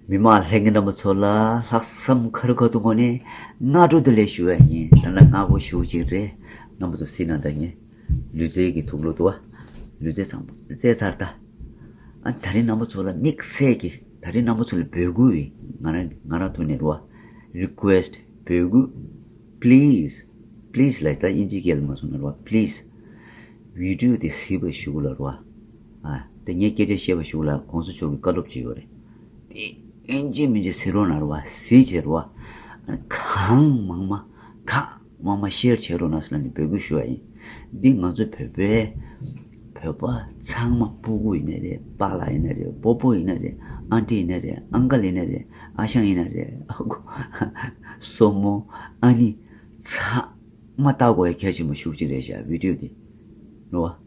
མི་མང་ལྷན་རྒྱས་རྣམ་པ་ཚོ་ལ་ལྷག་བསམ་ཁ་རུ་ཁ་ཐུག་ངོ་ནས་སྔ་དྲོ་དུ་ལས་ཞུ་ཡ་ཡིན་རང་ལ་སྔ་དགོ་ཞུ་གཅིག་རེད་རྣམ་པ་ཚོ་སྲིད་ན་ད་ངས་ལུས་རྩལ་གྱི་ཐུགས་བློ་དུ་བ་ལུས་རྩལ་ཚང་བཙལ་ཚར་ད། ཨ་ད་རིང་རྣམ་པ་ཚོ་ལ་དམིགས་བསལ་གྱི་ད་རིང་རྣམ་པ་ཚོ་ལ་འབོད་སྐུལ་རེད་ང་རང་ང་རང་ཐུགས་ནས་རུ་བ Request འབོད་སྐུལ Please Please ལ་ད་དབྱིན་ཇི་སྐད་ལ་མ་སོང་ན་རུ་བ Please Video དེ་གཟིགས་པ་ཞུ་གུ་ལ་རུ་བ། དེ་ངས་སྐད་ཆ་བཤད་པ་ཞུགས་ལ་གོང་ས་མཆོག་གི་བཀའ་སློབ་ཅི་ཡོད་རེད། དེ་ཨིན་ཇི་མིན་ཇི་སི་རོ་ན་རོ་བ་སི་ཇི་རོ་བ། གང་མང་མ་གང་མང་མ་ཤེར་བྱེད་རོ་ན་སི་ལ་ནས་འབོད་སྐུལ་ཞུ་བ་ཡིན། འདི་ང་ཚོ་བོད་པའི་བོད་པ་ཚང་མ་སྤུ་གུ་ཡིན་ན་རེད་པ་ལགས་ཡིན་ན་རེད་པོ་པོ་ཡིན་ན་རེད་ཨ་འདྲེ་ཡིན་ན་རེད་ཨ་འགལ་ཡིན་ན་རེད་ཨ་ཞང་ཡིན་ན་རེད་ཨ་དགོ་སོ་མོ་ཨ་ནི་ཚང་མ་ལྟ་དགོས་ཡ་གལ་ཆེན་པོ་ཞུགས་ཅིག་རེད་བཞག་བིད་དྲོད་དེ་རོ་བ།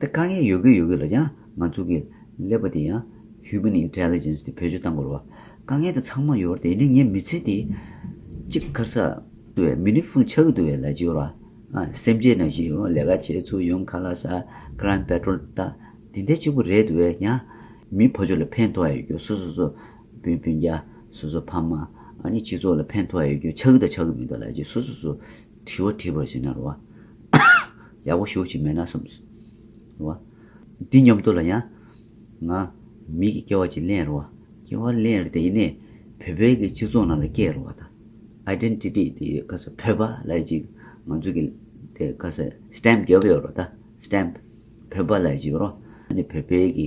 དེ་དཀའ་ངལ་ཡོད་གི་ཡོད་གི་ལ་ཀྱང་ང་ཚོ་གི་ཀླད་པ་དེ་ཡང Human Intelligence དེ་བེད་སྤྱོད་བཏང་དགོས་རེད་བ། དཀའ་ངལ་དེ་ཚང་མ་ཡོད་བར་དེ་ཡིན་ན་ངའི་མི་ཚེ་དེ་གཅིག་ཁར་ས་དུ་བའི་མི་ནི་ཕུང་ཆགས་ཀྱི་དུ་བའི་ལས་ཀྱི་ཡོད་རེད་བ། སེམས་ཅན་ནང་བཞིན་ཡང་ལས་ཀ་བྱེད་ཚུལ་ཡང་ཁ་ལ་ས Crime Patrol དང་དེ་འདྲ་གཅིག་པུ་རེད་དུ་བས་ཀྱང་མིའི་ཕོ་ཆོས་ལ་ཕན་ཐོགས་ཡ་ཡོད་རྒྱུ་སུ་སུ་སུ་བུ་སྤུན་རྒྱ་སུ་སུ་ཕ་མ་ཨ་ནི་སྤྱི་ཚོགས་ལ་ཕན་ཐོགས་ཡ་ཡོད་རྒྱུ་ཆགས་ཀྱི་དང་ཆགས་ཀྱི་མི་འདུག་ལ་ཀྱི་སུ་སུ་སུ་དྲི་བ་དྲིས་པར་བྱས་ན་རོ། ཡག་པོ་ཞུ་ཅིག་མེད་ན་གསུངས། རོ། འདི་སྙམ་དུ་ལ་ཡང། ང། མི་གི་སྐྱེ་བ་ཅིག་ལེན་རོ། སྐྱེ་བ་ལེན་རོ་དེ་ཡིན་ནས། བོད་པའི་གི་སྤྱི་ཚོགས་ནང་ལ་སྐྱེ་རོ་བ་དང། Identity དེ་ཁ་ས་བོད་པ་ལ་ཡོད་ཅིག་ང་ཚོ་གི་དེ་ཁ་ས Stamp རྒྱབ་ཡོད་རོ་ད Stamp བོད་པ་ལ་ཡོད་ཅིག་རོ། ནི་བོད་པའི་གི།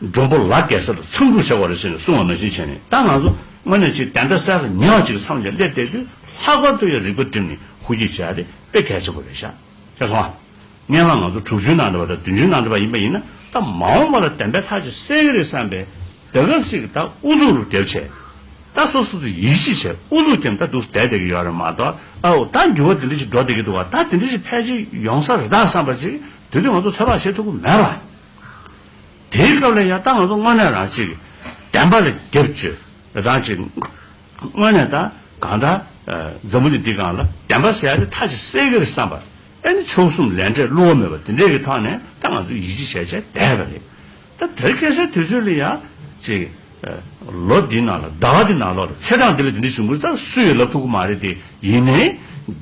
མགྲོན་པོ་ལགས་གེ་སར་འཚམས་འདྲུ་བྱ་བ་རེད་ཟེར་ནས་གསུང་བ་མ་ཞིག་བྱས་ནས་ད་ང་ཚོ་དངོས་གནས་ཅིག་དེ་འདྲ་སལ་ཉག་ཅིག་མཚམས་བཞག་སླེབས་བསྡད་དུས་ལྷག་པར་དུ་ཡང་རིག་པ་བསྒྲིམས་ནས་ཧུར་གྱིས་བྱས་ཏེ་དཔེ་གལ་ཆེན་པོ་རེད་ཤག་ཤག་སོང་ཨ། སྙན་ངག་ང་ཚོ་དྲུག་ཅུའི་ནང་འདྲ་བ་དང་བདུན་ཅུའི་ནང་འདྲ་བ་ཡིན་པ་ཡིན་ན་ད་མ་འོངས་པ་ལ་བདེན་པའི་ལྷག་ཅིག་གསལ་གི་རེད་བསམ་པས་ད་ག་ཟིག་ད་ཨུ་ཚུགས་རུ་དེབ་བྱས། ད་སོ་སོ་ཚོ་ཡིད་ཆེས་བྱས་ཨུ་ཚུགས་ཀྱང་ད་འདུག་བསྡད་བསྡད་ཀྱི་ཡོད་རེད་མ་གཏོགས་ཨ་འོ་ད་འགྱུར་བ་དེ་འདྲ་ཞིག་འགྲོ་བསྡད་ཀྱི་འདུག་བ་ད་དེ་འདྲ་ཞིག་ཕལ་ཆེར་ཡོང་ས་རེད་ད་བསམ་པ་ཅིག་དེ་དུས་ང་ཚོ་ཚོད་དཔག་བྱེད་ཐུབ་ཀྱི་མེད་པ། དེའི་སྐབས་ལ་ཡང་ད་ང་ཚོ་དངོས་གནས་རང་གཅིག་བདེན་པ་ལ་རྒྱབ་བཅོལ་རང་གཅིག་དངོས་གནས་ད་གང་ལྟར་འཛམ་བུ་གླིང་འདི་གང་ལ་བདེན་པ་ཟེར་ཡག་དེ་ཐག་ཅིག་གསལ་གི་རེད་བསམ་པར་ཨེ་ནི་ཆོལ་གསུམ་ལས་འབྲས་བསླུ་བ་མེད་པ་དེ་འདྲས་ཀྱི་ཐོག་ནས་ད་ང་ཚོ་ཡིད་ཆེས་བྱས་བྱས་བསྡད་པ་རེད། ད་དེར་སྐད་ཆ་དེ་ཚོས་ལ་ཡང་ཅིག་ལོ་འདིའི་ནང་ལ་ཟླ་བ་འདིའི་ནང་ལོགས་ལ་ཚེ་གྲངས་འདི་ལ་དེ་འདྲའི་བྱུང་ཁུལ་ད་སུ་ཡིས་ལབ་ཐུབ་ཀི་མ་རེད་དེ་ཡིན་ནའི་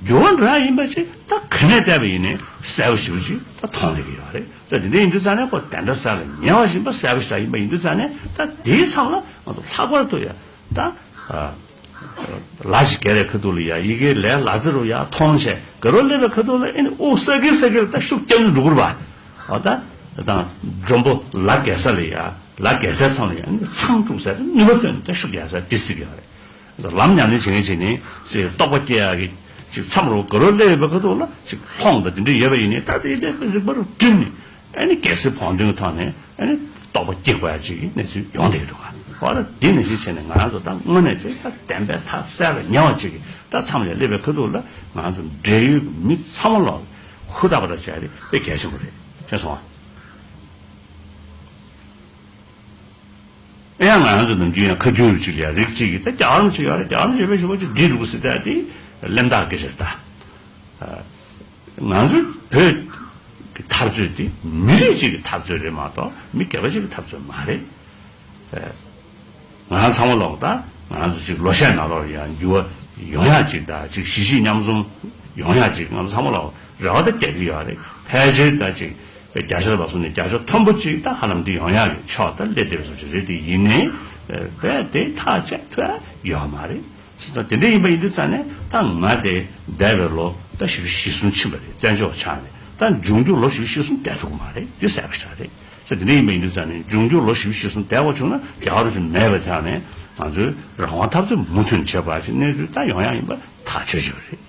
འགྱུར་བ་འགྲོ་ཡག་ཡིན་པ་ཅིག་ད་ག་ནས་བལྟས་པ་ཡིན་ནའི་གསལ་བོ་ཞིབ་པོ་ཅིག་ད་མཐོང་ལེ་གི་ཡོད་རེད། ས་དེ་འདྲ་ཡིན་དུས་ཙང་ནས་ཁོ་དེ་འདྲ་ས་ལ་ཉལ་བ་བཞིན་པ་གསལ་པོ་ཞག་ཡིན་པ་ཡིན་དུས་ཙང་ནས་ད་དེའི་མཚམས་ལ་ང་ཚོ་ལྷག་པར་དུ་ཡ་ད་ལ་ཞིག་གེ་རའི་ཁ་ཐུག་ལ་ཡ་ཡི་གེ་ལས་ལ་ཙེ་རུ་ཡ་ཐོང་ཆེ་གེ་རོ་སླེབས་པའི་ཁ་ཐུག་ལ་ཨེ་ནི་ཨོ་ས་གེ་ས་གེ་ལ་ད་ཤུགས་རྐྱང་ནི་འགྲོ་གུར་བ་ཨོ་ད་དང་འབྲོང་པོ་ལ་གེ་ས་ལ་ཡ་ལ་གེ་སའི་མཚམས་ལ་ཡ་ནི་མཚམས་དཀྲུགས་ས་གེ་ནུས་པ་ཐོན་ནི་ད་ཤུགས་ཡ་ས་ཏི་སི་གེ་བ་རེད། ལམ་ཉམས་ལེན་བྱེད་མཁན་ཞིག་ནི། རྟོགས་པ་སྐྱེ་ཡག་གི། མཚམས་རོ་གུ་རུ་སླེབས་ཡོད་པའི་ཁ་ཐུག་ལ། ལྷོངས་དང་འབྲེལ་འདྲིས་ཡོད་པ་ཡིན། ད་ལྟའི་ལས་ཀ་རིག་པ་རུ་བསྒྲིམས་ནས། གལ་སྲིད་བོང་བརྡུང་གི་ཐོག་ནས། རྟོགས་པ་སྐྱེ་དགོས་ཡ་གཅིག་གི་གནས་ཚུལ་ཡོང་བསྡད་ཡོད་འདུག་ག། འོ་ན་འདི་ནི་གཞིས་བྱེས་ནས་ང་རང་ཚོ་ད་དངོས་གནས་ཆེས་བདེན་པའི་ཐག་གསལ་ལ་ཉེ་བ་གཅིག་གི། ད་མཚམས་ལས་སླེབས་པའི་ཁ་ཐུག་ལ། ང་རང་ཚོ་འབྲེལ་ཡོད་ཀྱི་མི་ཚང་མ་ལོག་ནས། ཧུར་ཐག་པ་ཐག་བྱས་ཏེ་དཔེ་གལ་ཆེན་པོ་རེད། ཤེས་སོང་ཨ། ཨེ་ཡ་ང་ཡང་ཚོ་ནམ་རྒྱུན་ཡང་ཁ་རྒྱུན་རུ་ཅིག་ལ་ཡང་རིག་གཅིག་གིས་ད་རྒྱ་གར་མི་ཚོ་ཡོད་རེད་རྒྱ་གར་མི་ཚོ་ཡོད་པས་ཞོགས་པ་ཅིག་འདྲིས་འདུག་ཟེར་ཏེ་དེ་གླེན་རྟགས་ཀྱི་རེད་ད། ང་ཚོ་བོད་ཀྱི་འཐབ་རྩོད་དེ་མི་རིགས་གཅིག་གི་འཐབ་རྩོད་རེད་མ་གཏོགས་མི་སྒེར་པ་གཅིག་གི་འཐབ་རྩོད་མ་རེད། ང་རང་ཚང་མ་ལོག་ད་ང་ཚོ་ཅིག་ལོ་ཤས་ནང་ལོག་ཡང་འགྱུར་བ་ཡོང་ཡག་ཅིག་ད་ཅིག་གཞིས་བྱེས་མཉམ་འཛོམས་ཡོང་ཡག་ཅིག་ང་ཚོ་ཚང་མ་ལོག་རེ་བ་ད་རྒྱག་གི་ཡོད་རེད་ཕལ་ཆེར་ད་ཅིག་བརྒྱ་ཆ་ལ་བཟུང་ནས་བརྒྱ་ཆ་མཐོན་པོ་གཅིག་ད་ཧ་ལམ་འདི་ཡང་ཡང་རེད་ཆོག་ད་སླེབས་བསྡད་པ་སོགས་ཀྱི་རེད་དེ་ཡིན་ནའི་བས་དེ་ཐག་ཆད་ཐོས་ཡོད་མ་རེད། ཅི་ཙང་དེ་འདྲ་ཡིན་པ་ཡིན་དུས་ཙང་ནས་ད་ང་དེ་འདས་པའི་ལོ་ཟླ་བཞི་བཅུ་ཞེ་གསུམ་ཕྱིན་པ་རེད་བཙན་བྱོལ་བ་ཆགས་ནས་ད་འབྱུང་འགྱུར་ལོ་བཞི་བཅུ་ཞེ་གསུམ་འདས་ཐུབ་ཀྱི་མ་རེད་འདི་གསལ་པོ་ཆགས་རེད་ཚེ་འདི་འདྲ་ཡིན་པ་ཡིན་དུས་ཙང་ནས་འབྱུང་འགྱུར་ལོ་བཞི་བཅུ་ཞེ་གསུམ་འདས་འོང་བྱུང་ན་རྒྱ་གར་རུ་ཞིག་མེད་པའི་ཐད་ནས་ང་ཚོའི་རང་དབང་འཐབ་རྩོད་མུ་མཐུད་བྱེད་དགོས་པ་ཞིག་གནས་ཚུལ་ད་ཡང་ཡང་ཡིན་པ་ཐག་ཆོད་ཆོད་རེད།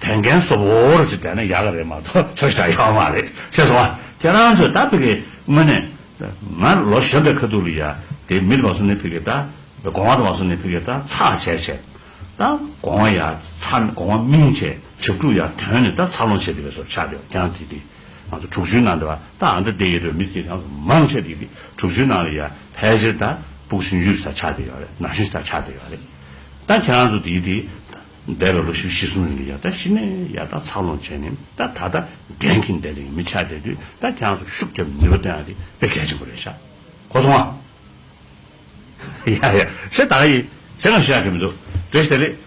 དེ་འགན་གསོབ་བོ་བོར་ཅིག་བསྡད་ན་ཡག་གི་རེད་མ་གཏོགས་ཁྱོད་ཞག་ཡག་མ་རེད་ཤེས་སོང་ང་ཁྱེད་རང་ཚོས་ད་ཕི་གེ་དངོས་གནས་ང་ལོ་གཞོན་པའི་ཁ་ཐུག་ལ་ཡ་དེ་མིར་བ་སུ་ནས་ཕི་གེ་ད་གོང་བ་ད་བ་སུ་ནས་ཕི་གེ་ད་ཚགས་བྱས་བྱས་ད་གོང་བ་ཡ་ཚགས་ནས་གོང་བ་སྨིན་བྱས་བྱེད་ཕྲུག་ཡ་དོན་ནས་ད་ཚགས་ལོང་བྱས་དེ་བས་སོར་ཆགས་དེ་བ་ཀྱང་དེ་དེ་ང་ཚོ་དྲུག་ཅུའི་ནང་དེ་བ་ད་ཨ་མདོ་སྡེ་ཡེ་རོའི་མི་དེ་གང་སུ་མང་ཆེ་དེ་དེ་དྲུག་ཅུའི་ནང་ལ་ཡ་ཕལ་ཆེར་ད་སྤུག་ཤིང་ཡུལ་ས་ཆགས་དེ་ཡོད་རེད་ནགས་ཤིང་ས་ཆགས་དེ་ཡོད་རེད་ད་ཁྱེད་རང་ཚོ་དེ་དེ། འདས་པའི་ལོ་བཞི་བཞི་གསུམ་རིང་གི་ཡར་ལྟ་ཞི་གནས་ཡར་ལྟ་འཚར་ལོངས་བྱས་ནས་ད་ད་ལྟ་འགན་འཁྱིན་བསྡད་རིང་མི་ཆ་བསྡད་དུས་ད་གྱང་སུ་ཤུགས་རྒྱབ་ནུས་པ་བཏོན་ཨ་དེ་དཔེ་གལ་ཆེན་པོ་རེད་ཤག་གོ་སོང་ཨ། ཡ་ཡ་ཞེ་ད་ག་ཡིན་ཞེ་ང་ཞུ་ཡག་གི་མི་འདུག་བཀྲ་ཤིས་བདེ་ལེགས།